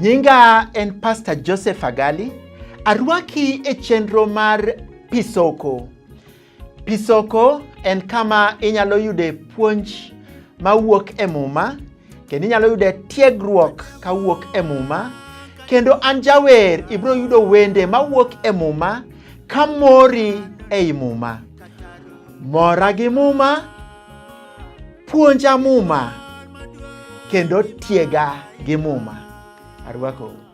Nyinga en Pastor Joseph Agali. Arwaki e chenro mar Pisoko. Pisoko en kama inyalo yude puonj mawuok e Muma kendo inyalo yude tiegruok kawuok e Muma kendo an jawer ibiro yudo wende mawuok e Muma ka mori ei Muma. Mora gi Muma, puonja Muma kendo tiega gi Muma. Arwakou.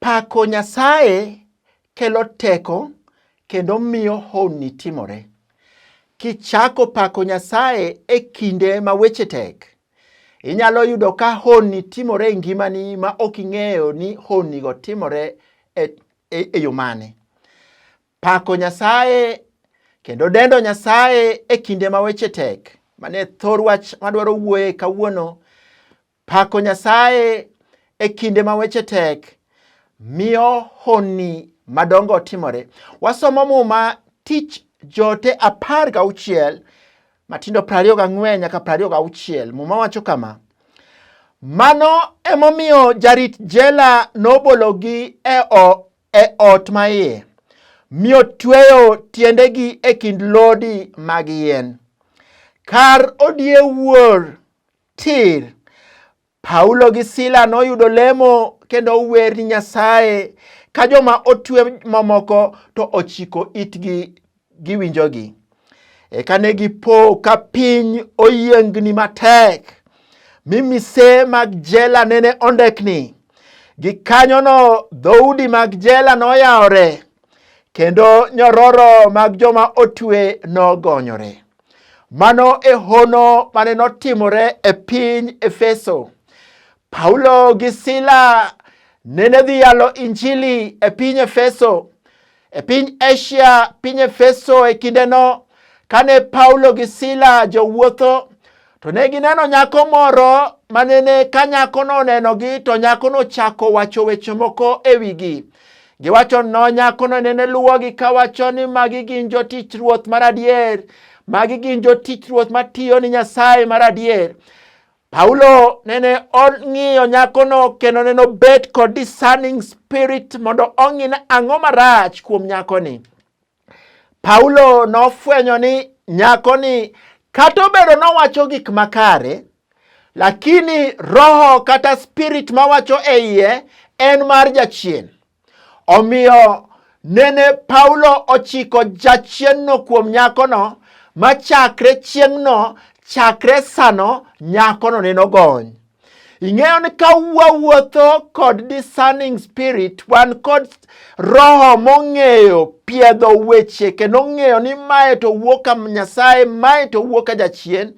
Pako Nyasaye kelo teko kendo miyo honni timore. Kichako pako Nyasaye e kinde ma weche tek, inyalo yudo ka honni timore e ngimani ma ok ing'eyo ni honnigo timore e, e, e yo mane. Pako Nyasaye kendo dendo Nyasaye e kinde ma weche tek, mane thor wach madwaro wuoye kawuono, Pako Nyasaye e kinde ma weche tek miyo honni madongo timore. Wasomo Muma tich jote apar gauchiel matindo prariyo gang'wen nyaka prariyo gauchiel. Muma wacho kama, mano emomiyo jarit jela nobologi e, e ot ma iye mi otweyo tiendegi e kind lodi mag yien. Kar odie wuor tir. Paulo gi Sila noyudo lemo kendo wer ni Nyasaye ka joma otwe mamoko to ochiko itgi giwinjogi. Eka ne gipo ka piny oyiengni matek mi mise mag jela nene ondekni. Gikanyono dhoudi mag jela noyawore kendo nyororo mag joma otwe nogonyore. No Mano e hono mane notimore e piny Efeso. Paulo gi Sila nene dhi yalo Injili e piny Efeso. E piny Asia, piny Efeso e kindeno, kane Paulo gi Sila jowuotho, To ne gineno nyako moro manene ka nyakono onenogi to nyakono chako wacho weche moko e wigi. Giwacho no nyakono nene luwogi kawacho ni magi gin jotich ruoth mar adier, magi gin jotich ruoth matiyo ni Nyasaye mar adier. Paulo nene ong'iyo nyakono kendo nene obet kod discerning spirit mondo ong'ine ang'o marach kuom nyakoni. Paulo nofwenyo ni nyakoni kata obedo nowacho gik makare, lakini roho kata spirit mawacho e iye en mar jachien. Omiyo nene Paulo ochiko jachienno kuom nyakono ma chakre chieng'no chakre sano nyakono neno gony. Ing'eyo ni ka wawuotho kod discerning spirit, wan kod roho mong'eyo piedho weche kendo ong'eyo ni mae to wuok ka Nyasaye, mae to wuok ka jachien.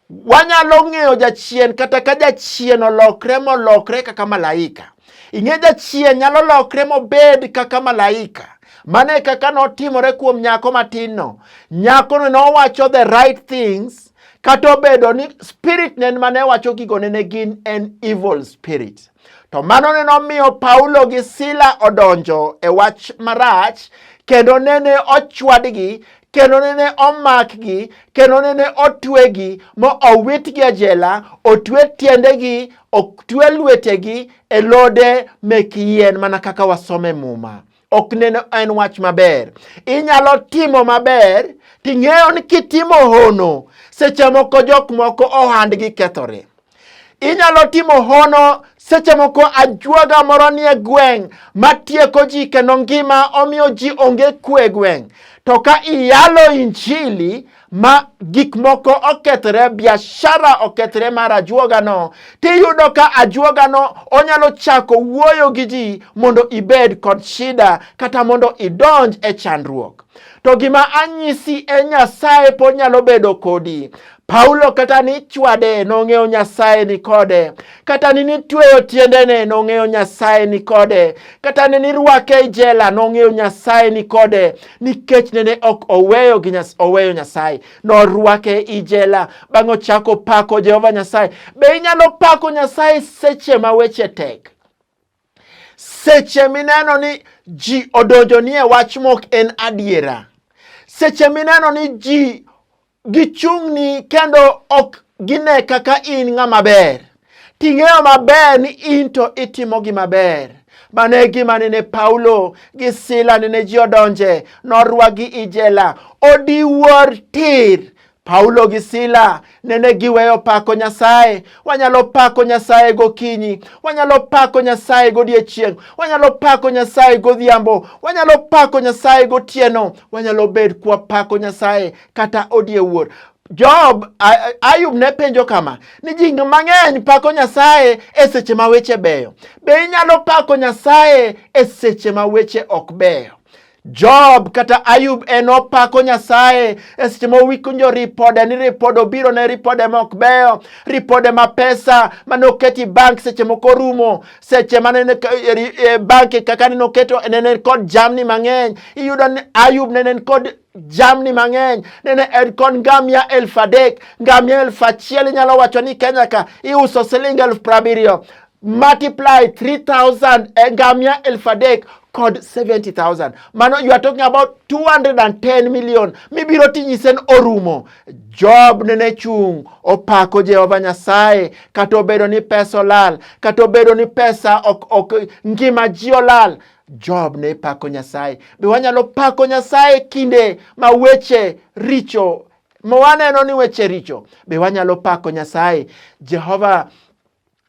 Wanyalo ng'eyo jachien kata ka jachien olokre molokre kaka malaika. Ing'e jachien nyalo lokre mobed kaka malaika. Mano e kaka notimore kuom nyako matinno. Nyakono nowacho the right things Kata obedo ni spirit nen ma ne wacho gigo nene gin en evil spirit. To mano ne nomiyo Paulo gi Sila odonjo e wach marach kendo nene ochwadgi kendo nene omakgi kendo nene otwegi mo owitgi e jela otwe tiendegi otwe lwetegi e lode mek yien mana kaka wasome muma ok neno en wach maber. Inyalo timo maber ting'eyo ni kitimo hono seche moko jok moko ohandgi kethore. Inyalo timo hono seche moko ajuoga moro nie gweng' matieko ji kendo ngima omiyo ji onge kwe gweng'. To ka iyalo injili ma gik moko okethre, biashara okethre mar ajuogano, tiyudo ka ajuogano onyalo chako wuoyo gi ji mondo ibed kod shida kata mondo idonj e chandruok. To gima anyisi e Nyasaye pod nyalo bedo kodi. Paulo kata ni chwade nong'eyo Nyasaye ni kode, kata ni nitweyo tiendene nong'eyo Nyasaye ni kode, kata ni nirwake e jela nong'eyo Nyasaye ni kode, nikech nene ok oweyo gi nyas, oweyo Nyasaye norwake i jela bang' ochako pako Jehova Nyasaye. Be inyalo pako Nyasaye seche ma weche tek? Seche mineno ni ji odonjo nie wach mok en adiera, seche mineno ni ji gichung'ni kendo ok gine kaka in ng'ama ber ting'eyo maber ni in to itimo gima ber mano e gima nene paulo gi sila nene ji odonje norwagi i jela odiwuor tir paulo gi sila nene giweyo pako nyasaye wanyalo pako nyasaye gokinyi wanyalo pako nyasaye godiechieng' wanyalo pako nyasaye godhiambo wanyalo pako nyasaye gotieno wanyalo bed kwapako nyasaye kata odie wuor. Job, Ayub ne penjo kama, ni ji mang'eny pako Nyasaye e seche ma weche beyo. Be inyalo pako Nyasaye e seche ma weche ok beyo? Job kata Ayub en opako Nyasaye e seche ma owinjo ripode ni ripode obiro ne ripode ma ok beyo, ripode ma pesa mane oketi bank seche moko orumo, seche mane e, e, bank kaka nene oketo nene kod jamni mang'eny. Iyudo ni Ayub nene kod jamni mang'eny nene en kod ngamia elfu adek ngamia elfu achiel inyalo wacho ni kenya ka iuso siling elfu prabiriyo multiply 3000 eh, ngamia elfu adek kod 70000 mano you are talking about 210 million mibiro tinyisen orumo job nene chung' opako jehova nyasaye kata obedo ni pesa olal kata obedo ni pesa ok, ok ngima ji olal Job ne pako Nyasaye. Be wanyalo pako Nyasaye kinde ma weche richo ma waneno ni weche richo? Be wanyalo pako Nyasaye? Jehova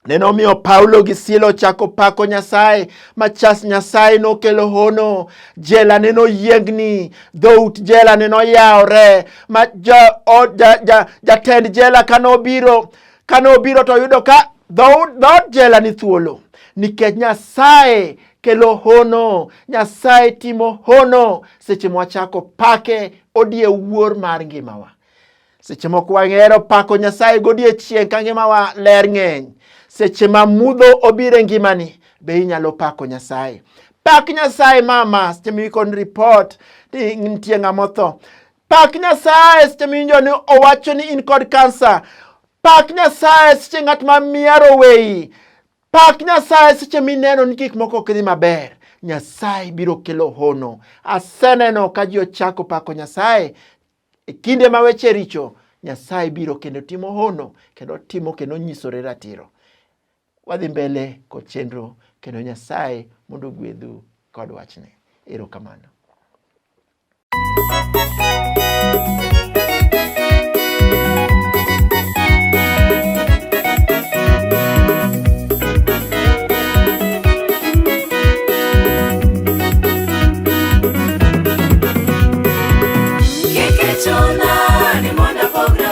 ne nomiyo Paulo gi Sila ochako pako Nyasaye. Machas Nyasaye nokelo hono, jela ne noyiengni, dhout jela ne noyawore, ma jatend ja, ja, ja jela ka nobiro Kane obiro to oyudo ka dhood jela ni thuolo nikech Nyasaye kelo hono, Nyasaye timo hono seche mwachako pake odie wuor mar ngimawa. Seche moko wang'ero pako Nyasaye godiechieng' ka ngimawa ler ng'eny. Seche ma mudho obiro e ngimani be inyalo pako Nyasaye. Pak Nyasaye mama seche miwikon ripot ni nitie ng'ama otho. Pak Nyasaye seche miwinjo ni owacho ni in kod kansa. Pak Nyasaye seche ng'at ma miaro weyi. Pak Nyasaye seche mineno ni gik moko ok dhi maber. Nyasaye biro kelo hono. Aseneno ka ji ochako pako Nyasaye e kinde ma weche richo. Nyasaye biro kendo timo hono kendo timo kendo nyisore ratiro. wadhi mbele kod chenro kendo Nyasaye mondo ogwedhu kod wachne. Erokamano.